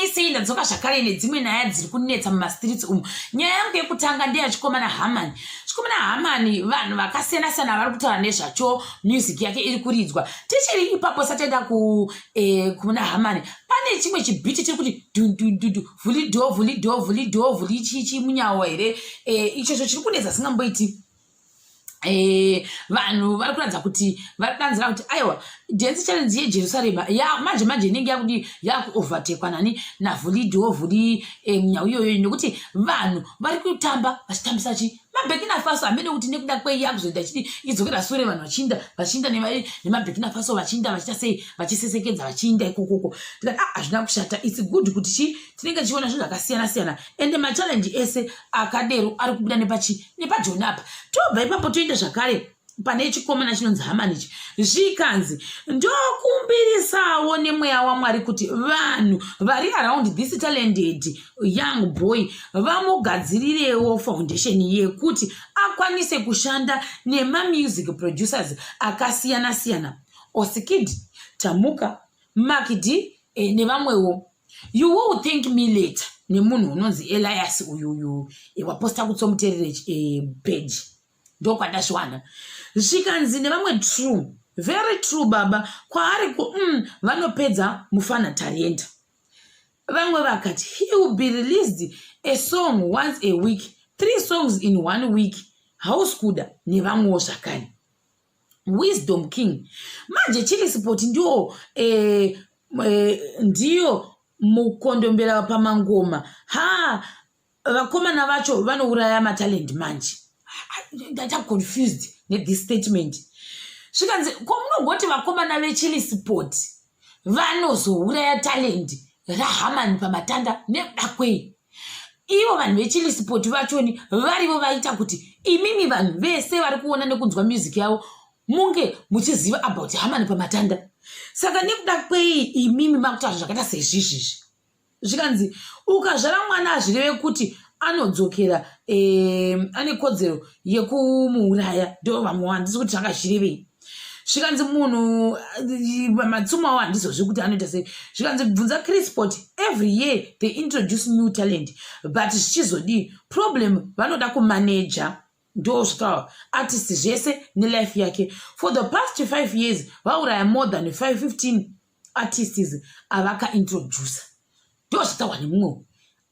isei ndadzoka zvakare nedzimwe nyaya dziri kunetsa mumastreets umu nyaya yangu yekutanga ndeya chikomana hamani chikomana hamani vanhu vakasiyana siyana vari kutaura nezvacho music yake iri kuridzwa tichiri ipapo sataenda eh, kuna hamani pane chimwe chibhiti chiri kuti dundududu vhulido vhulido vhulido vhuli chichi munyawo here eh, ichocho chiri kunetsa singamboiti Eh, vanhu vari kuratidza kuti vari kudanzira kuti aiwa dance challenge yejerusarema ya manje manje inenge yakudi yakuovertekwa nani navhulidhiwo vhuli eh, nyau iyoyo nekuti vanhu vari kutamba vachitambisa chi mabhekina faso hamene kuti nekuda kwei yakuzoita chiti idzokera sure vanhu vachiinda vachiinda nemabhekina faso vachiinda vachita sei vachisesekedza vachiinda ikokoko tikati ah, hazvina kushata its good kuti chi tinenge tichiona zvinhu zvakasiyana siyana ende machallenji ese akadero ari kubuda nepachi nepajoni apa tobva ipapo toenda zvakare pane chikomana chinonzi hamani ichi zvikanzi ndokumbirisawo nemweya wamwari kuti vanhu vari around this talented young boy vamugadzirirewo foundation yekuti akwanise kushanda nemamusic producers akasiyana-siyana osikid tamuka makidi eh, nevamwewo you will thank me later nemunhu unonzi elias uyuyu waposta kutsomuterere eh, page ndokwandazviwana zvikanzi nevamwe true very true baba kwaari ku mm, vanopedza mufana tarienda vamwe vakati he will be released a song once a week three songs in one week house kuda nevamwewo zvakare wisdom king manje chili sport ndiwo eh, eh, ndiyo mukondombera pamangoma ha vakomana vacho vanouraya matalent manje ndata confused nethis statement zvikanzi ko munongoti vakomana vechili sport vanozouraya talendi rahamani pamatanda nekuda kwei ivo vanhu vechilisipoti vachoni varivo vaita kuti imimi vanhu vese vari kuona nekunzwa music yavo munge muchiziva about hamani pamatanda saka nekuda kwei imimi makutaura zvakaita seizvizvizvi zvikanzi ukazvara mwana hazvireve kuti anodzokera eh, ane kodzero yekumuuraya ndo vamwe handisi kuti zvakazvirevei zvikanzi munhu eh, matsumo awo handizozvi kuti anoita sei zvikanzi bvunza crisport every year they introduce new talent but zvichizodii problem vanoda kumaneja ndosvika artist zvese nelife yake for the past 5 years vauraya more than 515 artists avakaintroducer ndosvitawa nemumwe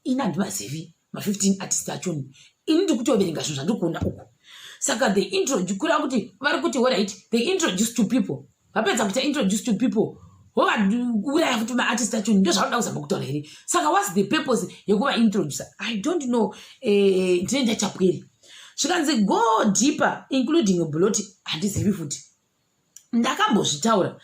ini handimazivi ma15 artist achoni ini ndiri kutoverenga zvinhu zvandiri kuona uku saka they introduce kureva kuti vari kuti orit they introduce to people vapedza kuita introduce to people wovauraya futi maartist acho ndo zvaunoda kuzama kutaura here saka whats the purpose yekuva introducer i don't know eh, ndine ndachapweri zvikanzi go deeper including bloti handizivi futi ndakambozvitaura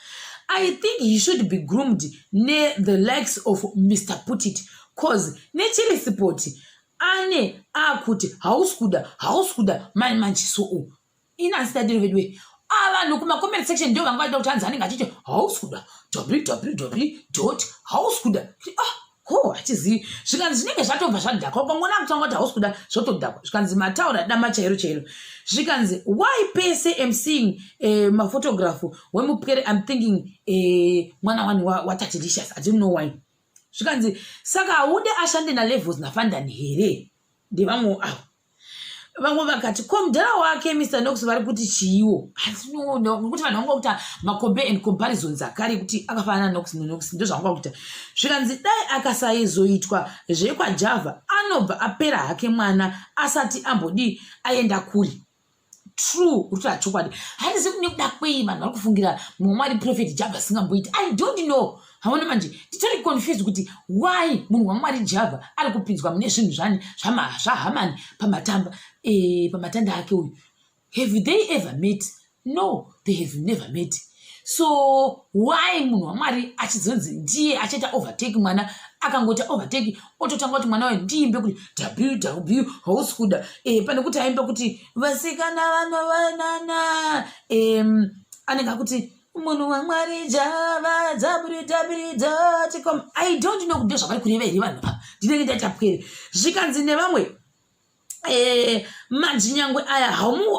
i think he should be groomed nethe likes of mr putit cause nechirisipoti ane akuti hausi kuda hausi kuda mani manjisou inazitadiro veduwe avanhu ah, kumacomment section ndo vanga vaida kuti hanzi anenge achiti hausi kuda www hausi kuda ah ho hatizivi zvikanzi zvinenge zvatobva zvadhakwa ukangona kutanga kuti hausi kuda zvotodhakwa zvikanzi mataura dama chairo chairo zvikanzi why pese am seeing eh, mafotografu wemupwere im thinking eh, mwana wani watatilicious wa i don't know why zvikanzi saka haude ashande nalevels nafandani here ndevamwewo avo vamwe vakati ko mudhara wake mr nox vari kuti chiiwo asi no, no, nokuti vanhu vanga kuita macompare and comparisons akare ekuti akafanana nox nox ndozvavanga kuita zvikanzi dai akasaizoitwa zvekwajava anobva apera hake mwana asati ambodii aenda kuri true uri tachokwadi handizivi kune kuda kwei vanhu vari kufungira mumwe mwari profeti java asingamboiti i don't know haona manje titori confused kuti why munhu wamwari java ari kupinzwa mune zvinhu zvani zvahamani pamatamba e, pamatanda ake uyu have they ever met no they have never met so why munhu wamwari achizonzi ndiye achaita overtake mwana akangoita overtake ototanga kuti mwana wayo ndiimbe kuti ww hausi kuda e, pane kuti aimba kuti vasikana vanovanana e, anenge akuti munhu wamwari java dzabridabridzaticom i don't know kuti ndozvavari kureva here vanhu ava ndinenge ndaitapwere zvikanzi nevamwe eh, majinyangwe aya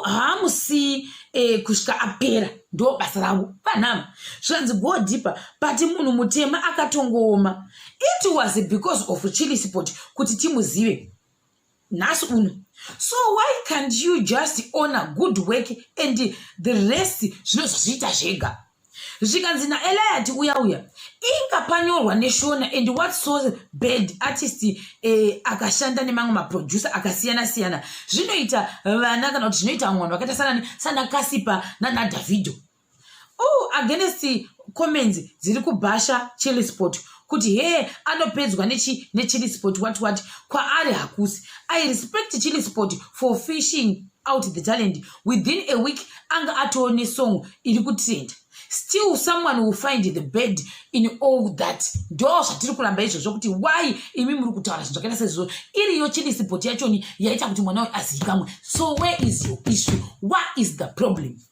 haamusii eh, kusvika apera ndo basa rangu panhama zvanzi go deeper but munhu mutema akatongooma it was because of chili sport kuti timuzive nhasi uno so why can't you just owner good work and the rest zvinozozviita zvega zvikanzi naeliati uya uya inga panyorwa neshona and what so bad artist eh, akashanda nemamwe maproducer akasiyana siyana zvinoita vana kana kuti zvinoita vamwe vanhu vakaita sanani sana kasipa nanadavido o oh, against comments dziri kubhasha chili sport kuti hee anopedzwa nechili sport wat wat kwaari hakusi i respect chili sport for fishing out the talent within a week anga atoo nesong iri kutrenda still someone will find the bed in all that ndo zvatiri kuramba izvozvo kuti why imi muri kutaura zvinhu zvakaita sezvizvo iriyo chilisipoti yachoni yaita kuti mwana uyu azivikamwe so where is your issue what is the problem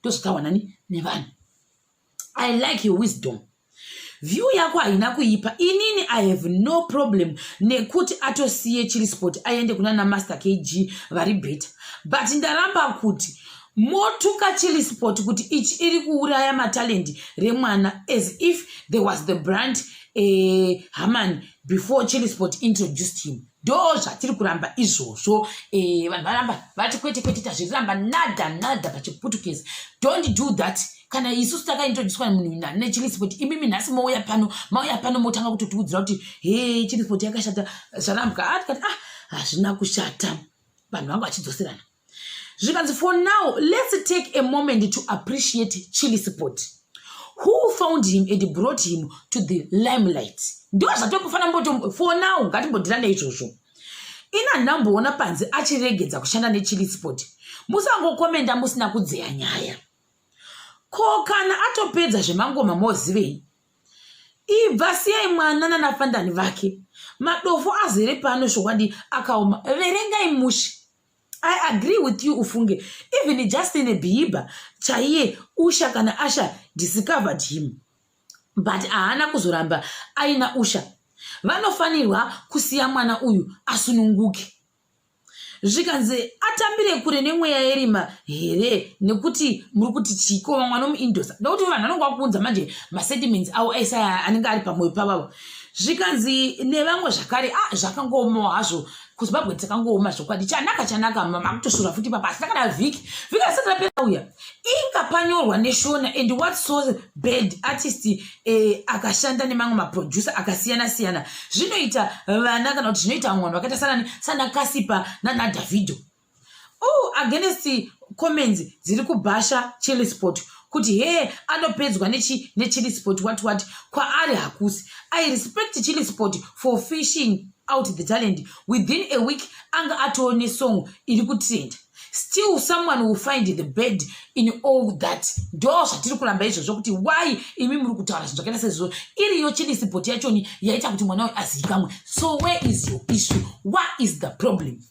ndozotaura nani nevanhu i like your wisdom view yako haina kuipa inini i have no problem nekuti atosiye chiri sport aende kuna namaster kg vari beta but ndaramba kuti motuka chili sport kuti ichi iri kuuraya matalendi remwana as if there was the brand eh, haman before chili sport introduced him ndo zvatiri kuramba izvozvo eh, vanhu varamba vati kwete kwete tazviramba nada nada pachiputukezi don't do that kana isusu takaintroduswa munhu nechilispot imimi nhasi mouya pano mauya pano motanga kutotiudzira kuti he chilispot yakashata zvarambwa atikati ah hazvina kushata vanhu vangu vachidzoserana zvikanzi for now let's take a moment to appreciate chili sport who found him and brought him to the limelight ndo zvatombofanira mboto for now ngatimbondirane izvozvo ina ndamboona panzi achiregedza kushanda nechili sport musangokomenda musina kudzeya nyaya ko kana atopedza zvemangoma mozivei ibva siyai mwana nanafandani vake madofo azere pano zvokwadi akaoma verengai mushe i agree with you ufunge even justin bieber chaiye usha kana asha discovered him but haana kuzoramba aina usha vanofanirwa kusiya mwana uyu asununguke zvikanzi atambire kure nemweya yerima here nekuti muri kuti chiko vamwe vanomuindosa ndokuti vanhu vanonge vakuunza manje masediments avo aisa anenge ari pamwoyo pavavo zvikanzi nevamwe zvakare a ah, zvakangomawo hazvo kuzimbabwe takangooma zvokwadi chanaka chanaka makutoshura futi papa asi takada vhiki vhiki asati rapera uya inga panyorwa neshona and what so bad artist eh, akashanda nemamwe maproducer akasiyana siyana zvinoita vana kana kuti zvinoita vamwe vanhu vakaita sanani sana kasipa nanadavido oh against comments dziri kubhasha chilisport kuti hee anopedzwa nechi nechilisport what what kwaari hakusi i respect chilisport for fishing out the talent within a week anga atoo nesong iri kutrenda still someone will find the bed in all that ndo zvatiri kuramba izvozvo kuti why imi muri kutaura zvinhu zvakaita sezvoo iriyo chilisipoti yachoni yaita kuti mwana we azivikamwe so where is your issue what is the problem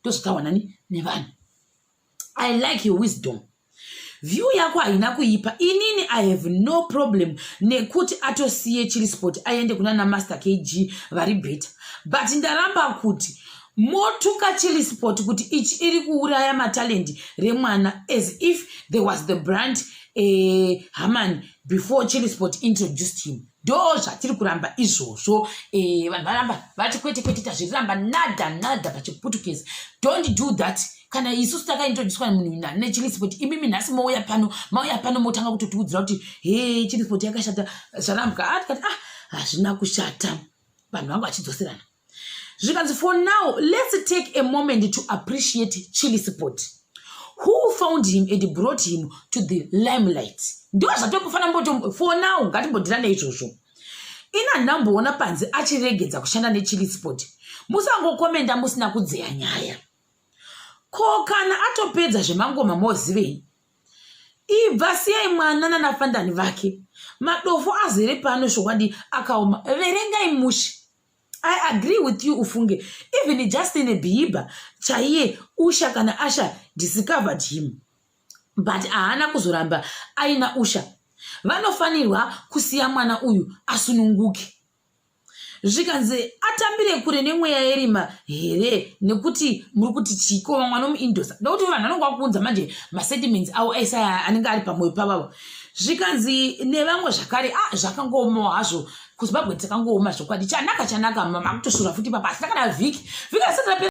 ndozotahwa nani nevanhu i like your wisdom view yako haina kuipa inini i have no problem nekuti atosiye chiri sport aende kuna namaster kg vari better but ndaramba kuti motuka chili sport kuti ichi iri kuuraya matalendi remwana as if there was the brand eh, haman before chili sport introduced him ndo zvatiri kuramba izvozvo eh, vanhu varamba vati kwete kwete tazviramba nada nada pachiputukezi dont do that kana isusu takaintroduswa munhu nechilisipoti imimi nhasi mouya pano mauya pano motanga kutotiudzira kuti he chilisipoti yakashata zvarambwa atikati ah hazvina kushata vanhu vangu vachidzoserana zvikanzi for now let's take a moment to appreciate chili sport who found him and brought him to the limelight ndo zvatombofanira mboto for now ngatimbodirane izvozvo ina nhamboona panzi achiregedza kushanda nechili sport musangokomenda musina kudzeya nyaya ko kana atopedza zvemangoma mozivei ibva siyai mwana nanafandani vake madofo azere pano zvokwadi akaoma verengai mushe i agree with you ufunge even just in a behiba chaiye usha kana asha discovered him but haana kuzoramba aina usha vanofanirwa kusiya mwana uyu asununguke zvikanzi atambire kure nemweya yerima here nekuti muri kuti chiikova mwana omuindosa ndokuti vanhu vanonge vakuunza manje masediments avo aise anenge ari pamwoyo pavavo zvikanzi nevamwe zvakare a ah, zvakangomawo hazvo kuzimbabwe dzakangooma zvokwadi chanaka chanaka mama kutosura futi papa asi takada vhiki vhiki asati rapera